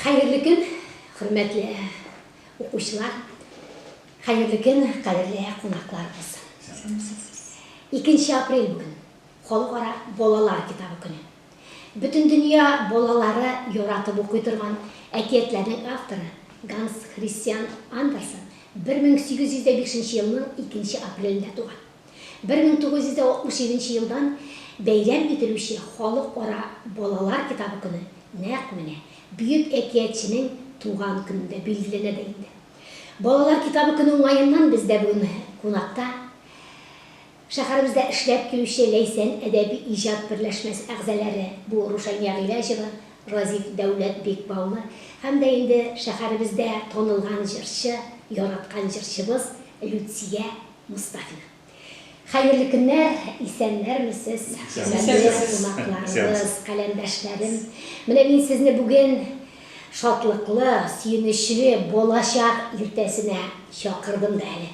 Хәерле көн, хөрмәтле укучылар! Хәерле көн, кадерле кунакларыбыз! Икенче апрель бүген, Халыкара балалар китабы көне. Бөтендөнья балалары яратып укый торган әкиятләрнең авторы Ганс Христиан Андерсен 1805 елның икенче апрелендә туган. Бер мең тугыз йөз дә алтмыш җиденче елдан бәйрәм ителүче Халыкара балалар китабы көне нәкъ менә бөек әкиятченең туган көнендә билгеләнә дә инде. Балалар китабы көне уңаеннан бездә бүген кунакта шәһәребездә эшләп килүче Ләйсән әдәби-иҗат берләшмәсе әгъзаләре, бу Рушания Гыйләҗева, Разиф Дәүләт Бикбаулы һәм дә инде шәһәребездә танылган җырчы, яраткан җырчыбыз Люция Мостафина. Хәерле көннәр, исәннәрме сез, хөрмәтле кунакларыбыз, каләмдәшләрем. Менә мин сезне бүген шатлыклы, сөенечле балачак иртәсенә чакырдым да әле.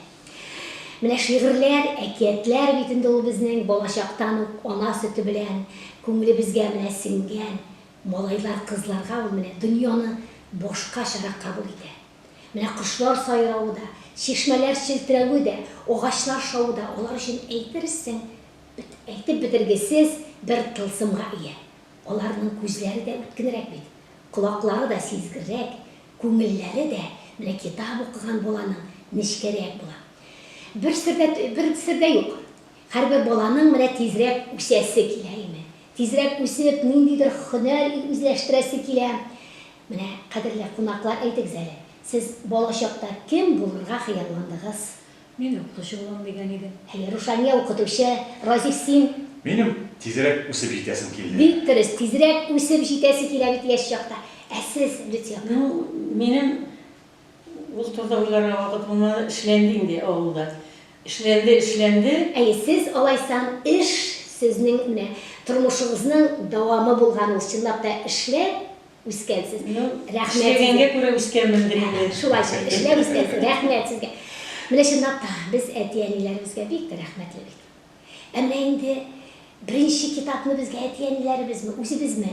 Менә шигырьләр, әкиятләр бит инде ул безнең балачактан ук ана сөте белән күңелебезгә менә сеңгән, малайлар, кызларга ул менә дөньяны башкачарак кабул итә. Менә кошлар сайравы да, чишмәләр челтерәве дә, агачлар шавы да алар өчен әйтерсең бит әйтеп бетергесез бер тылсымга ия. Аларның күзләре дә үткенрәк бит, колаклары да сизгеррәк, күңелләре дә менә китап укыган баланың нечкәрәк була. Бер сер дә, бер сер дә юк, һәрбер баланың менә тизрәк үсәсе килә име, тизрәк үсеп, ниндидер һөнәр үзләштерәсе килә, Менә, кадерле кунаклар, әйтегез әле, сез балачакта кем булырга хыялландыгыз? Мин укытучы булам дигән идем. Әйе, Рушания, укытучы. Разиф, син? Минем тизрәк үсеп җитәсем килде. Бик дөрес, тизрәк үсеп җитәсе килә бит яшь чакта. Ә сез, Люция апа? Ну, минем Ул турыда уйларга вакыт булмады, эшләнде инде авылда. Эшләнде, эшләнде. Әйе, сез алайсам эш сезнең менә тормышыгызның дәвамы булган ул, чынлап та эшләп үскәнсез. Ну, Рәхмәт сезгә. эшләгәнгә күрә үскәнмендер инде. Шулай шул, эшләп үскәнсез, рәхмәт сезгә. Менә чынлап та без әти-әниләребезгә бик тә рәхмәтле бит. Ә менә инде беренче китапны безгә әти-әниләребезме, үзебезме?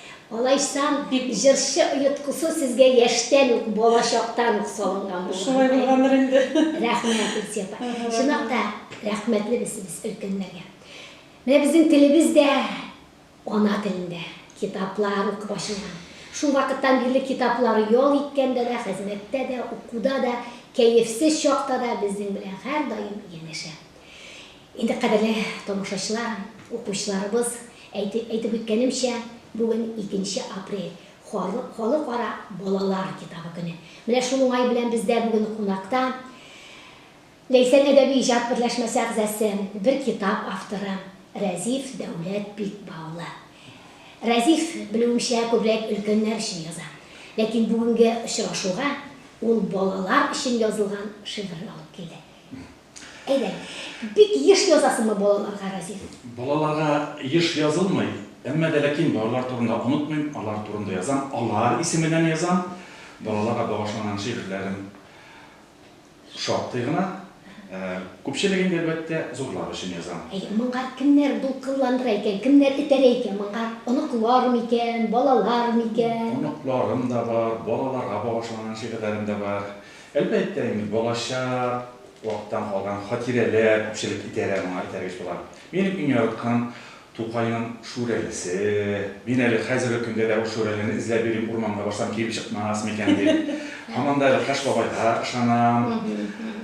Алайсам, җырчы оеткысы сезгә яшьтән үк, бала чактан ук салынган булган. Шулай булгандыр инде. Рәхмәт, Илсөя апа. Чынлап та, рәхмәтлебез без өлкәннәргә. Менә безнең телебез дә ана телендә китаплар укып ачылган. Шул вакыттан бирле китаплар ял иткәндә дә, хезмәттә дә, укуда да, кәефсез чакта да безнең белән һәрдаим янәшә. Инде кадерле тамашачылар, укучыларыбыз, әйтеп әйтеп үткәнемчә, бүген икенче апрель, халык халыкара балалар китабы көне. Менә шул уңай белән бездә бүген кунакта Ләйсән әдәби иҗат берләшмәсе әгъзасы, бер китап авторы Рәзиф Дәүләт Бикба улы. Рәзиф, белүемчә, күбрәк өлкәннәр өчен яза. Ләкин бүгенге очрашуга ул балалар өчен язылган шигырь алып килде. Әйдә, бик еш язасыңмы балаларга, Разиф? Балаларга еш язылмый, әмма дә ләкин балалар турында онытмыйм, алар турында язам, алар исеменнән язам. Балаларга багышланган шигырьләрем шактый гына. Күпчелеген дә, әлбәттә, зурлар өчен язам. Әйе, моңа кемнәр дулкынландыра икән, кемнәр этәрә икән моңа? Оныклар микән, балалар микән? Оныкларым да бар, балаларга багышланган шигырьләрем дә бар. Әлбәттә инде, балачак вакыттан калган хатирәләр күпчелек идарә моңа этәргеч була. Минем иң яраткан Тукайның Шүрәлесе. Мин әле хәзерге көндә дә ул Шүрәлене эзләп йөрим, урманга барсам килеп чыкмас микән дип. Һаман да әле Кыш бабайга ышанам.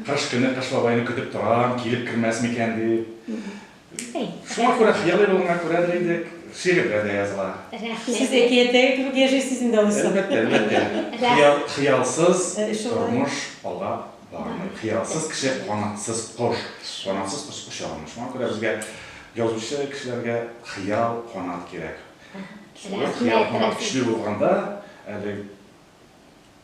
Кыш көне Кыш бабайны көтеп торам, килеп кермәс микән дип. Бирсәң. Шуңа күрә хыялый булганга күрә дә инде шигырьгә дә языла. Рәхмәт. Сез әкияттәге кебек яшәй сез инде алайса. Әлбәттә, әлбәттә. Хыял, хыялсыз тормыш алап бармый. Хыялсыз кеше канатсыз кош. Канатсыз кош оча алмый. Шуңа күрә безгә язучы кешеләргә хыял, канат кирәк. Шулай хыял, канат көчле булганда әле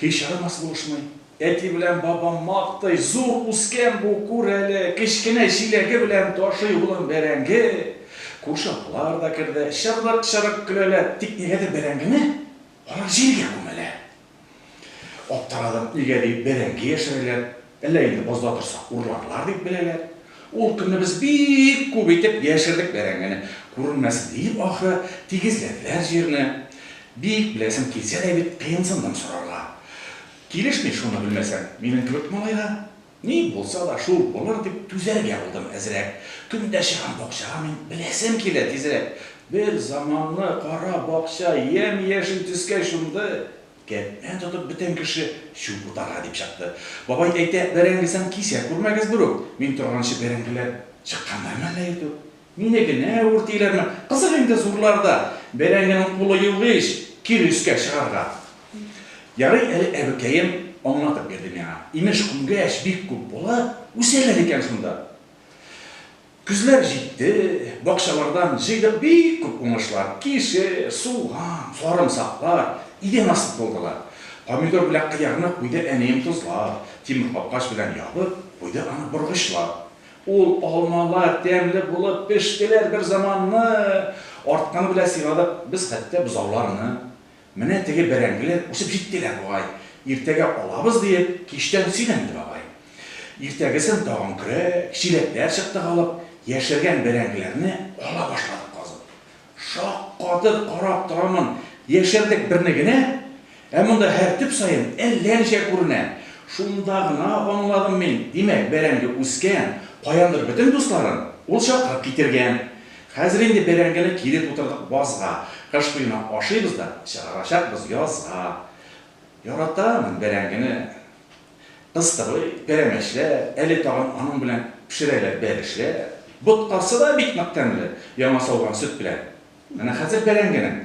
Һич арымас булышмый. Әти белән бабам мактый, Зур үскән бу, күр әле, кечкенә чиләге белән ташый улын бәрәңге. Күрше апалар да керде, чырлык-чырык көләләр. Тик нигәдер бәрәңгене алар җиргә күмәләр. Аптырадым, нигә дип бәрәңге яшерәләр? Әллә инде бозда торса урларлар дип беләләр. Ул көнне без бик күп итеп яшердек бәрәңгене. Күренмәсен диеп, ахры, тигезләделәр җирне. Бик беләсем килсә дә бит, кыенсындым сорарга. Килешми, шуны белмәсәң, минем кебек малайга. Ни булса да, шул булыр дип, түзәргә булдым әзрәк. Көн дә чыгам бакчага мин, беләсем килә тизрәк. Бер заманны кара бакча ямь-яшел төскә чумды. Кәтне тотып бөтен кеше чүп утарга дип чыкты. Бабай әйтә, бәрәңгесен кисә күрмәгез берүк, мин торганчы бәрәңгеләр чыкканнармы әллә иртүк? Мине генә үртиләрме? Кызык инде зурларда бәрәңгенең кулы юк ич, кире өскә чыгарга. Ярый әле әбекәем аңлатып бирде миңа. Имеш, күмгәч бик күп булып, үсәләр икән шунда. Көзләр җитте, бакчалардан җыйдык бик күп уңышлар, кишер, суган, сарымсаклар, идән асты тулдылар. Помидор белән кыярны куйды әнием тозлап, тимер капкач белән ябып, куйды аны боргычлап. Ул алмалар тәмле булып пештеләр берзаманны, артканы белән сыйладык без хәтта бозауларны. Менә теге бәрәңгеләр үсеп җиттеләр бугай, иртәгә алабыз, диеп, кичтән сөйләнде бабай. Иртәгесен тагын көрәк, чиләкләр чыктык алып, яшергән бәрәңгеләрне ала башладык казып. Шаккатып карап торамын, яшердек берне генә, ә монда һәр төп саен әллә ничә күренә. Шунда гына аңладым мин, димәк, бәрәңге үскән, каяндыр бөтен дусларын ул чакырып китергән. Хәзер инде бәрәңгене кире тутырдык базга, кыш буена ашыйбыз да, чыгарачакбыз язга. Яратам мин бәрәңгене. Кыстыбый, пәрәмәчләр, әле тагын аның белән пешерәләр бәлешләр. Боткасы да бик нык тәмле, яңа сауган сөт белән. Менә хәзер бәрәңгенең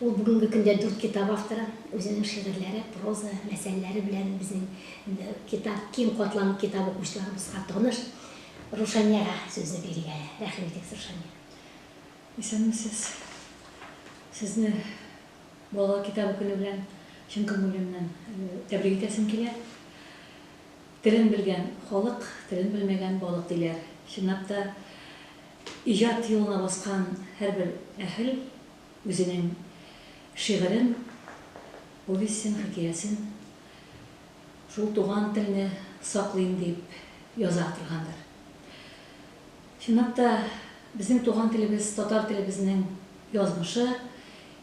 Ул бүгенге көндә дүрт китап авторы. Үзенең шигырьләре, проза, мәсьәләләре белән безнең китап, киң катлам китап укучыларыбызга таныш. Рушаниягә сүзне бирик әле. Рәхим итегез, Рушания. Исәнмесез. Сезне Балалар китабы көне белән чын күңелемнән тәбрик итәсем килә. Телен белгән, халык, телен белмәгән, балык, диләр. Чынлап та, Иҗат юлына баскан һәрбер әһел үзенең шигырен, повестен, хикәясен шул туган телне саклыйм дип яза торгандыр. Чынлап та, безнең туган телебез, татар телебезнең язмышы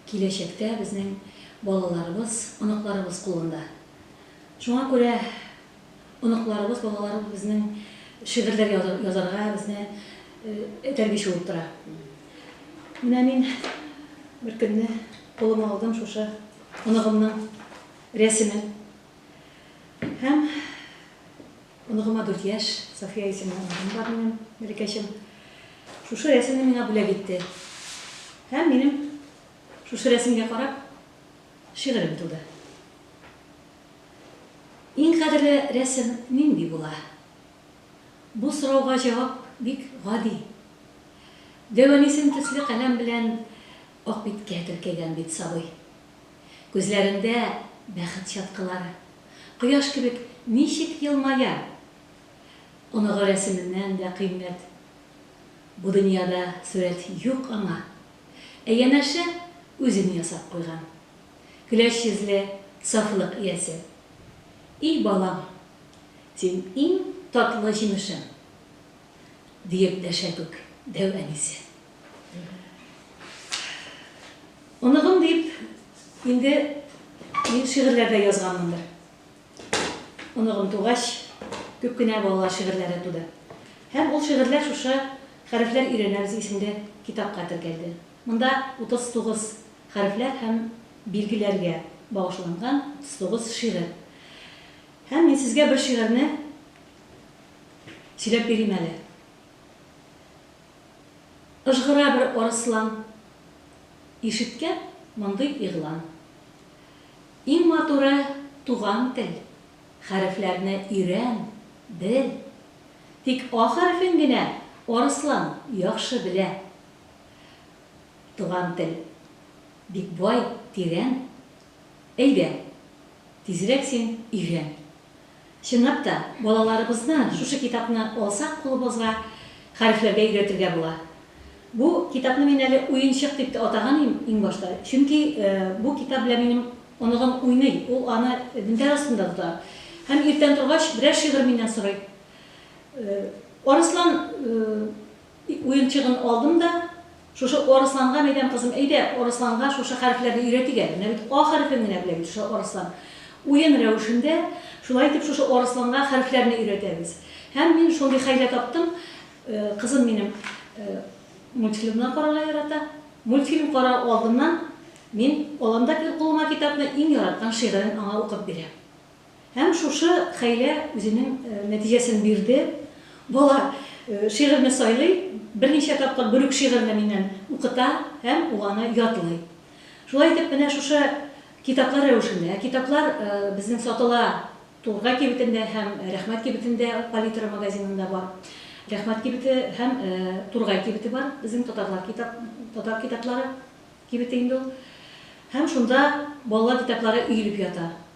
киләчәктә безнең балаларыбыз, оныкларыбыз кулында. Шуңа күрә оныкларыбыз, балаларыбыз безнең шигырьләр язарга безне этәргеч булып тора. Менә мин бер көнне кулыма алдым шушы оныгымның рәсемен. Һәм оныгыма 4 яшь, София исемле оныгым бар минем, Мәрикәчем. Шушы рәсемне миңа бүләк итте. Һәм минем шушы рәсемгә карап шигырем туды. Иң кадерле рәсем нинди була? Бу сорауга җавап бик гади. Дәванисым төсле каләм белән ак биткә теркәгән бит сабый. Күзләрендә, бәхет чаткылары. Кояш кебек ничек елмая! Оныгы рәсеменнән дә кыйммәт. Бу дөньяда сурәт юк аңа. Ә янәше үзен ясап куйган. Көләч йөзле, сафлык иясе. И балам, син иң татлы җимешем! диеп дәшә күк дәү әнисе. Оныгым дип инде мин шигырьләр дә язганмындыр. Оныгым тугач, күп кенә балалар шигырьләре туды. Һәм ул шигырьләр шушы Хәрефләр өйрәнәбез исемле китапка теркәлде. Монда 39 хәрефләр һәм билгеләргә багышланган сигез шигырь. Һәм мин сезгә бер шигырьне сөйләп бирим әле. Ыжгыра бер арыслан, Ишеткә мондый игълан. Иң матуры, туган тел, Хәрефләрне өйрән, бел. Тик А хәрефен генә Арыслан яхшы белә. Туган тел бик бай, тирән. Әйдә, тизрәк син өйрән. Чынлап та, балаларыбызны шушы китапны алсак кулыбызга, хәрефләргә өйрәтергә була. Бу китапны мин әле уенчык дип тә атаган идем иң башта, чөнки бу китап белән минем оныгым уйный, ул аны мендәр астында тота һәм иртән торгач берәр шигырь миннән сорый. Арыслан. Дип, уенчыгын алдым да, Шушы Арысланга, мәйдәм, кызым, әйдә, Арысланга шушы хәрефләрне өйрәтик әле, менә бит А хәрефен генә белә бит шушы Арыслан. Уен рәвешендә, шулай итеп, шушы Арысланга хәрефләрне өйрәтәбез. Һәм мин шундый хәйлә таптым, кызым минем мультфильмнар карарга ярата, мультфильм карау алдыннан мин алам да кулыма китапны, иң яраткан шигырен аңа укып бирәм. Һәм шушы хәйлә үзенең нәтиҗәсен бирде. Бала шигырьне сайлый, берничә тапкыр бер үк шигырьне миннән укыта һәм ул аны ятлый. Шулай итеп, менә шушы китаплар рәвешендә, ә китаплар безнең сатыла Тургай кибетендә һәм Рәхмәт кибетендә, Палитра магазинында бар. Рәхмәт кибете һәм Тургай кибете бар, безнең татарлар китап, татар китаплары кибете инде ул. Һәм шунда балалар китаплары өелеп ята.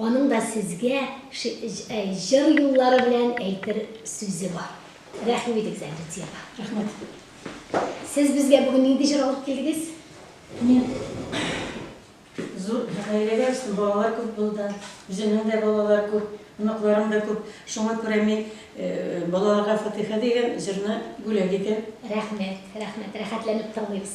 Аның да сезгә җыр юллары белән әйтер сүзе бар. Рәхим итегез әле Диана. Рәхмәт. Сез безгә бүген нинди җыр алып килдегез? Мин зур гаиләгә үстем, балалар күп булды. Үземнең дә балалар күп, оныкларым да күп. Шуңа күрә мин Балаларга фатыйха дигән җырны бүләк итәм. Рәхмәт, рәхмәт. Рәхәтләнеп тыңлыйбыз.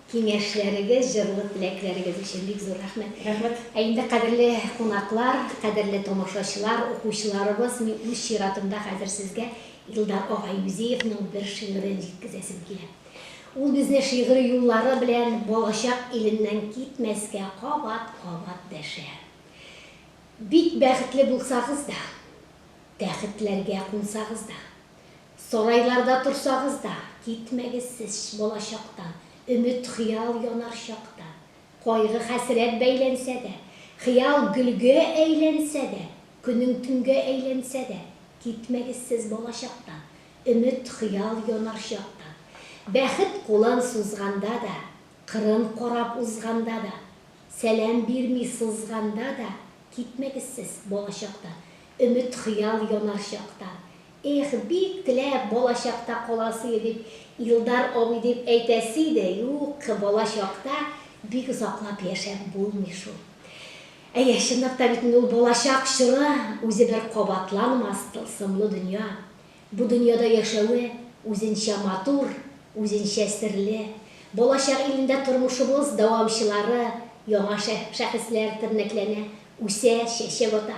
Киңәшләрегез, җырлы теләкләрегез өчен бик зур рәхмәт! Рәхмәт! Ә инде, кадерле кунаклар, кадерле тамашачылар, укучыларыбыз, мин үз чиратымда хәзер сезгә Илдар ага Юзеевның бер шигырен җиткезәсем килә. Ул безне шигъри юллары белән балачак иленнән китмәскә кабат-кабат дәшә. Бик бәхетле булсагыз да, тәхетләргә кунсагыз да, Сарайларда торсагыз да, китмәгез сез балачактан, Өмет, хыял янар чакта. Кайгы, хәсрәт бәйләнсә дә, Хыял гөлгә әйләнсә дә, Көнең төнгә әйләнсә дә, Китмәгез сез балачактан, Өмет, хыял янар чакта. Бәхет кулын сузганда да, Кырын карап узганда да, Сәлам бирми сызганда да, Китмәгез сез балачактан. Өмет-хыял янар чакта. Эх, бик теләп, балачакта каласы, дип, Илдар абый дип әйтәсе иде, юк, балачакта бик озаклап яшәп булмый шул. Әйе, чынлап та бит инде ул балачак чоры, үзе бер кабатланмас тылсымлы дөнья. Бу дөньяда яшәве үзенчә матур, үзенчә серле. Балачак илендә тормышыбыз дәвамчылары, яңа шәхесләр тернәкләнә, үсә, чәчәк ата.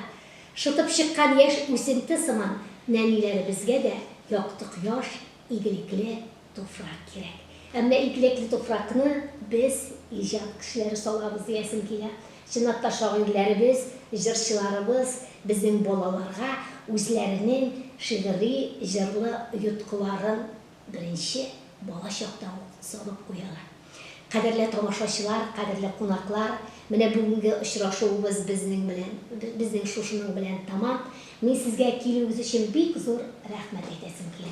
Шытып чыккан яшь үсенте сыман, нәниләребезгә дә якты кояш, игелекле, Туфрак кирәк. Ә менә икелекле туфракны без, иҗат кешеләре салабыз диясем килә. Чынлап та, шагыйрьләребез, җырчыларыбыз безнең балаларга үзләренең шигъри, җырлы оеткыларын беренче бала чакта ук салып куялар. Кадерле тамашачылар, кадерле кунаклар, менә бүгенге очрашуыбыз безнең белән, безнең шушының белән тәмам. Мин сезгә килүегез өчен бик зур рәхмәт әйтәсем килә.